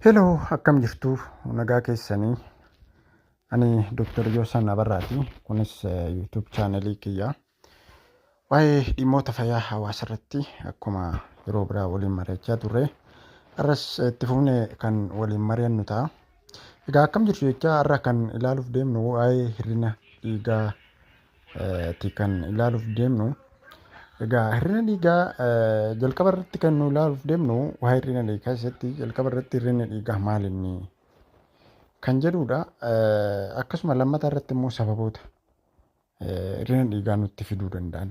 Heloo akkam jirtu nagaa keessanii ani Dr. Yoosan Abarraati kunis YouTube chaanelii kiyya waa'ee dhimmoota fayyaa hawaasa irratti akkuma yeroo biraa waliin mari'achaa turre har'as itti fuune kan waliin mari'annu ta'a. Egaa akkam jirtu jechaa har'a kan ilaaluuf deemnu waa'ee hir'ina dhiigaa ti kan ilaaluuf deemnu. Egaa hir'ina dhiigaa jalqaba irratti kan nu ilaaluuf deemnu waa'ee hir'ina dhiigaa keessatti jalqaba irratti hir'inni dhiigaa maal inni kan jedhudha. Akkasuma lammataa irratti immoo sababoota hir'ina dhiigaa nutti fiduu danda'an.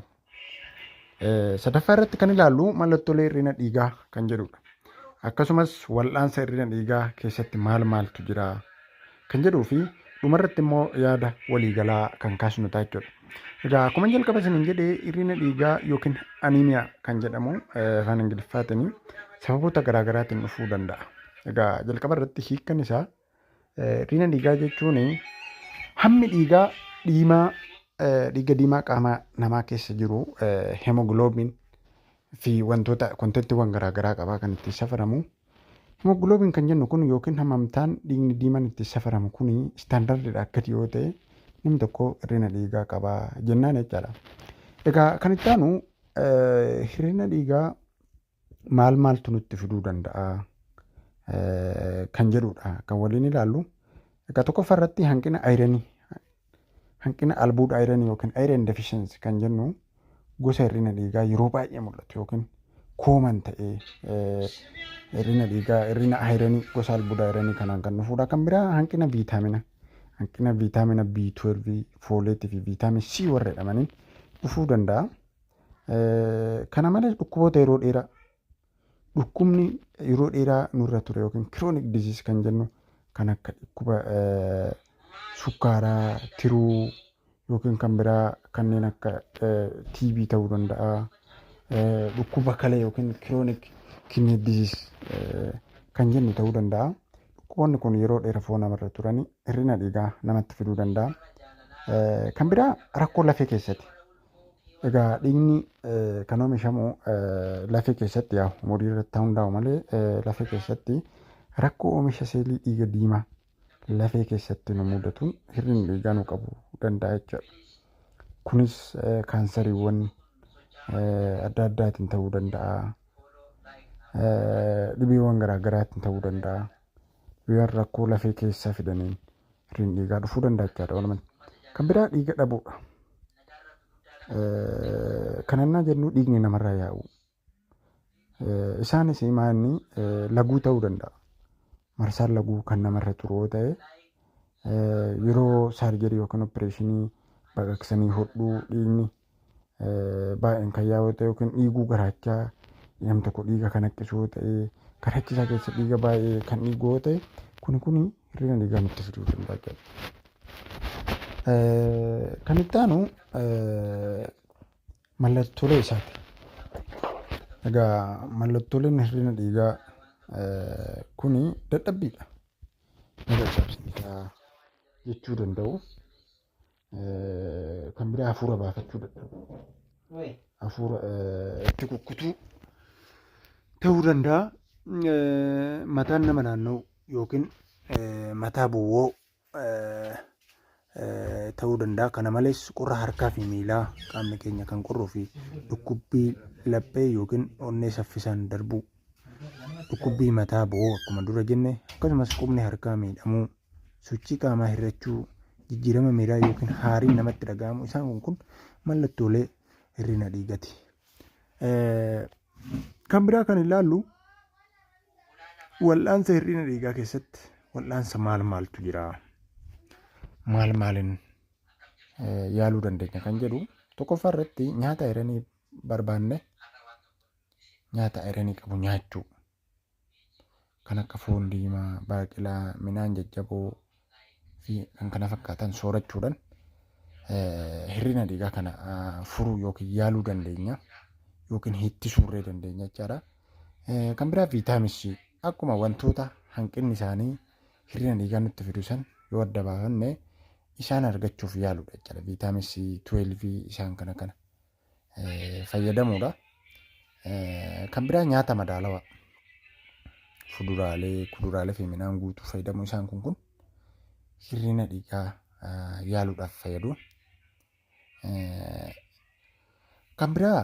Sadaffaa irratti kan ilaallu mallattoolee hir'ina dhiigaa kan jedhudha. Akkasumas wal'aansa hir'ina dhiigaa keessatti maal maaltu jira? kan jedhuu fi dhumarratti immoo yaada waliigalaa kan kaasnu ta'a jechuudha. Egaa akkuma jalqaba isiniin jedhe hir'ina dhiigaa yookiin aniimiyaa kan jedhamu afaan Ingiliffaatiin sababoota garaagaraatiin dhufuu danda'a. Egaa jalqaba irratti hiikkan isaa hir'ina dhiigaa jechuun hammi dhiigaa dhiimaa dhiiga diimaa qaama namaa keessa jiru hemogloobiin fi wantoota kontentiiwwan garaa garaa qaba kan ittiin safaramu. Himoogiloobiin kan jennu kun yookiin hammamtaan dhiigni diimaan ittiin safaramu kun istaandardiidhaa gadi yoo ta'e namni tokko hir'ina dhiigaa qaba jennaan jechaadha. Egaa kan itti aanu hir'ina dhiigaa maal maaltu nutti fiduu danda'a kan jedhudha kan waliin ilaallu. Egaa tokkoffaa irratti hanqina ayiranii Hanqina albuuda ayiranii yookiin iron deficiency kan jennu gosa hir'ina dhiigaa yeroo baay'ee mul'atu yookiin kooman ta'ee hir'ina dhiigaa hir'ina ayiranii gosa albuuda ayiranii kanaan kan dhufuudha. Kan biraa hanqina viitaamina hanqina viitaamina B12, fooleetii fi viitaamin C warra jedhamaniin dhufuu danda'a. Kana malees dhukkuboota yeroo dheeraa Dhukkubni yeroo dheeraa nurra ture yookiin chronic disease kan jennu kan akka dhukkuba sukkaaraa, tiruu yookiin kan biraa kanneen akka TB ta'uu danda'a. Dhukkuba kalee yookiin chronic kidney disease kan jennu ta'uu danda'a. Dhukkuboonni kun yeroo dheera foon namarra turanii hir'ina dhiigaa namatti fiduu danda'a. Kan biraa rakkoo lafee keessati. Egaa dhiigni kan oomishamu lafee keessatti yaa umurii irratti hundaa'u malee lafee keessatti rakkoo oomisha seelii dhiiga diimaa lafee keessatti nu mudatuun hir'inni dhiigaa nu qabu danda'a jechuudha. Kunis kaansariiwwan adda addaatiin ta'uu danda'a. Dhibeewwan garaa garaatiin ta'uu danda'a. Biyaan rakkoo lafee keessaa fidaniin firiin dhiigaa dhufuu danda'a jechaadha walumaan. Kan biraa dhiiga dhabuudha. Kan annaa jennu dhiigni namarraa yaa'u. Isaanis maanni laguu ta'uu danda'a. Marsaan laguu kan namarra turu yoo ta'e yeroo saarjarii yookiin opereeshinii baqaqsanii hodhuu dhiigni baay'een kan yaa'u ta'e yookiin dhiiguu garaachaa nam tokko dhiiga kan haqqisu yoo ta'e garaachisaa keessa dhiiga baay'ee kan dhiigu yoo ta'e kuni kuni hir'ina dhiigaa nutti fiduu danda'a jechuudha. Kan itti aanu mallattoolee isaati. Egaa mallattooleen hir'ina dhiigaa kuni dadhabbiidha. Ni dadhabsiisa jechuu danda'u. eh, kan biraa hafuura baafachuu dadhabuu Wee. hafuura eh, itti kukkutuu ta'uu danda'a. Eh, Mataan nama naanna'u yookiin eh, mataa bowwoo eh, eh, ta'uu danda'a. Kana malees qorra harkaa fi miilaa qaamni keenya kan qorruu fi dhukkubbii laphee yookiin onnee saffisaan darbuu dhukkubbii mataa bowwoo akkuma dura jenne akkasumas qubni harkaa miidhamuu sochii qaamaa hir'achuu, jijjiirama miiraa yookiin haariin namatti dhaga'amu isaan kun kun mallattoolee hir'ina dhiigati. Kan biraa kan ilaallu wal'aansa hir'ina dhiigaa keessatti wal'aansa maal maaltu jira? Maal maaliin yaaluu dandeenya kan jedhu tokkoffaa irratti nyaata ayiranii barbaanne nyaata ayiranii qabu nyaachuu. kan akka foon diimaa, baaqilaa, midhaan jajjaboo fi kan kana fakkaatan soorachuudhaan hir'ina dhiigaa kana furuu yookiin yaaluu dandeenya yookiin hittisuurree dandeenya jechaadha. Kan biraa viitaamin C akkuma wantoota hanqinni isaanii hir'ina dhiigaa nutti fidu san yoo adda baafanne isaan argachuuf yaaludha jechaadha. Viitaamin C 12 isaan kana kana fayyadamuudha. Kan biraa nyaata madaalawaa fuduraalee, kuduraalee fi midhaan guutuu fayyadamuu isaan kun kun hir'ina dhiigaa yaaluudhaaf fayyadu. Kan biraa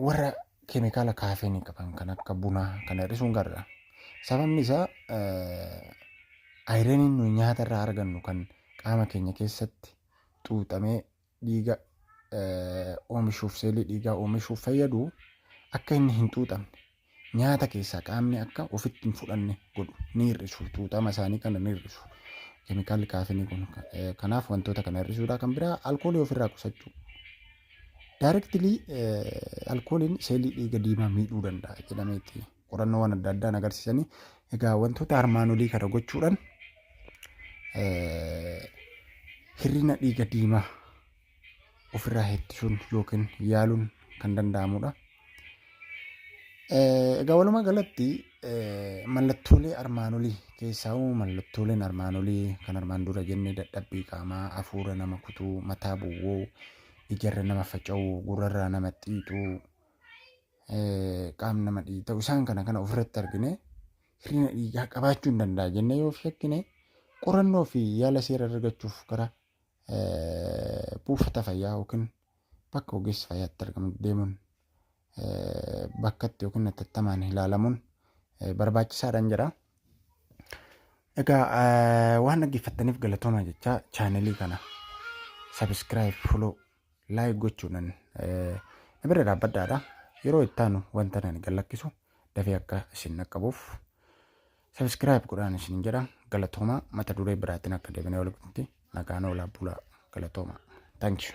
warra keemikaala kaafeenii qaban kan akka bunaa kana hir'isuun gaariidha. Sababni isaa ayiraniin nuyi nyaata irraa argannu kan qaama keenya keessatti xuuxamee dhiiga oomishuuf seelii dhiigaa oomishuuf fayyadu akka inni hin xuuxamne nyaata keessaa qaamni akka ofitti hin fudhanne godhu ni hir'isu xuuxama isaanii kana ni hir'isu keemikaalli kaafinii kun kanaaf wantoota kana hir'isuudhaa kan biraa alkoolii ofirraa qusachuu daayirektilii alkooliin seelii dhiiga diimaa miidhuu danda'a jedhameeti. qorannoowwan adda addaan agarsiisanii egaa wantoota armaan olii kana gochuudhaan hir'ina dhiiga diimaa ofirraa ittisuun yookiin yaaluun kan danda'amudha. Egaa walumaa galatti mallattoolee armaan olii keessaa mallattooleen armaan olii kan armaan dura jennee dadhabbii qaamaa, hafuura nama kutuu, mataa bu'uu, ijarra nama faca'uu, gurrarraa nama xiixuu, qaamni nama dhiita'u isaan kana kana ofirratti argine hir'ina dhiigaa qabaachuu hin danda'a jennee yoo shakkine qorannoo fi yaala seera argachuuf gara buufata fayyaa yookiin bakka ogeessi fayyaatti argamu deemuun bakkatti yookiin atattamaan ilaalamuun barbaachisaadhaan jedha. Egaa waan dhaggeeffattaniif galatoomaa jechaa chaanelii kana sabiskiraayib foloo like gochuunan na bira dhaabbadhaadha yeroo ittaanu wanta nani gallakkisu dafee akka isin naqqabuuf subscribe godhaan isin jedha galatoomaa mata duree biraatiin akka deebinee wal gutti nagaan oolaa bulaa galatoomaa thank you